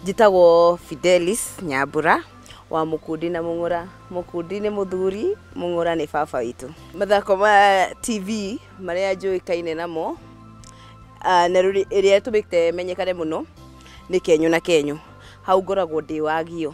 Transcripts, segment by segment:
njĩtagwo fidelis nyambura wa mũkundi na mũng'ũra mũkundi nĩ mũthuri mũng'ũra nĩ baba witũ mathako ma tv marĩa njũĩkaine namo ah, na rĩrĩa ĩtũmĩte menyekane mũno nĩ kenyo na kenyo hau ngoragwo ndĩ wagio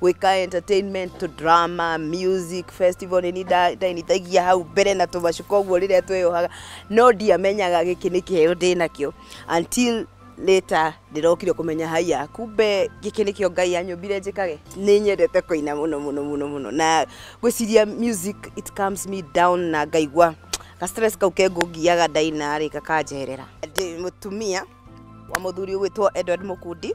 gwĩka entertainment drama music festival nĩ ndainithagia hau mbere na tũmacuka ũguo rĩrĩa tweyohaga no ndiamenyaga gĩkĩ nĩ kĩheo ndĩ nakĩo until later ndĩrokire kũmenya haya kumbe gĩkĩ nĩkĩo ngai anyũmbire njĩkage nĩ nyendete kũina mũno mũno mũno mũno na gwĩciria music it comes me down na ngaigua ka stress kau kengũngiaga ndainarĩ gakanjerera ndĩ mũtumia wa mũthuri ũgwĩtwo edward mũkundi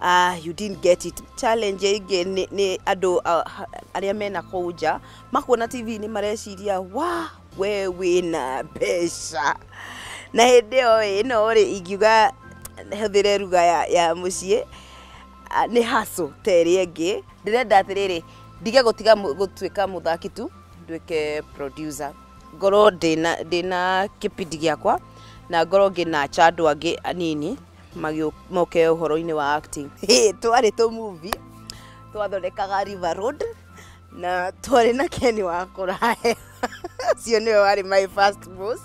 Ah, you didn't get it. Challenge ĩngĩ nĩ- nĩ andũ ah, arĩa mena kũu nja makuona TV nĩ mareciria wa we wĩna mbeca na hĩndĩ ĩyo ĩ, ĩno rĩ ingiuga hũthĩre ruga ya, ya mũciĩ ah, nĩ haso ta ĩrĩa ĩngĩ ndĩrenda atĩrĩrĩ ndige gũtiga mũ- gũtuĩka mũthaki tu nduĩke producer ngorwo ndĩna ndĩna kĩbindi gĩakwa na ngorwo ngĩnacha andũ angĩ anini moke ũhoro-inĩ wa acting hey, twarĩ tũ movie twathondekaga river road na twarĩ na keni wa kũrahe ũcio nĩwe warĩ my first boss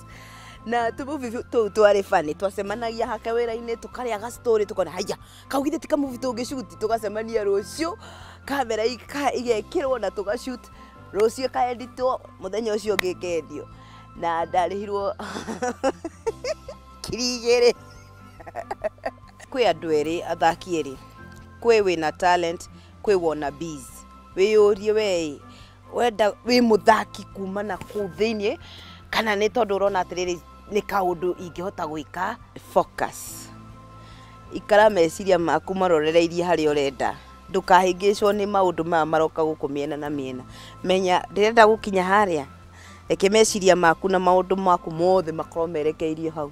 na tũmuvi tũu twarĩ bani twacemanagia hake wĩra-inĩ tũkarĩa gacitorĩ tũkona haiya kau githĩ ti kamuvi tũngĩcuti tũgacemania rũciũ kamera ika- igekĩrwo na tũgacuti rũciũ ĩkaenditwo mũthenya ũcio ũngĩ ĩkendio na ndarĩhirwo ngiri igĩrĩ kwĩ andũ erĩ athaki erĩ kwĩ wĩna talent kwĩ wona bees wĩyũrie wee wenda wĩ mũthaki kuma na kũu thĩinĩ kana nĩ tondũ ũrona atĩrĩrĩ nĩ kaũndũ ingĩhota gwĩka focus ikara meciria maku marorereirie harĩa ũrenda ndũkahĩngĩcwo nĩ maũndũ maya maroka gũkũ mĩena na mĩena menya ndĩrenda gũkinya harĩa Reke meciria maku na maũndũ maku mothe makorwo merekeirio hau.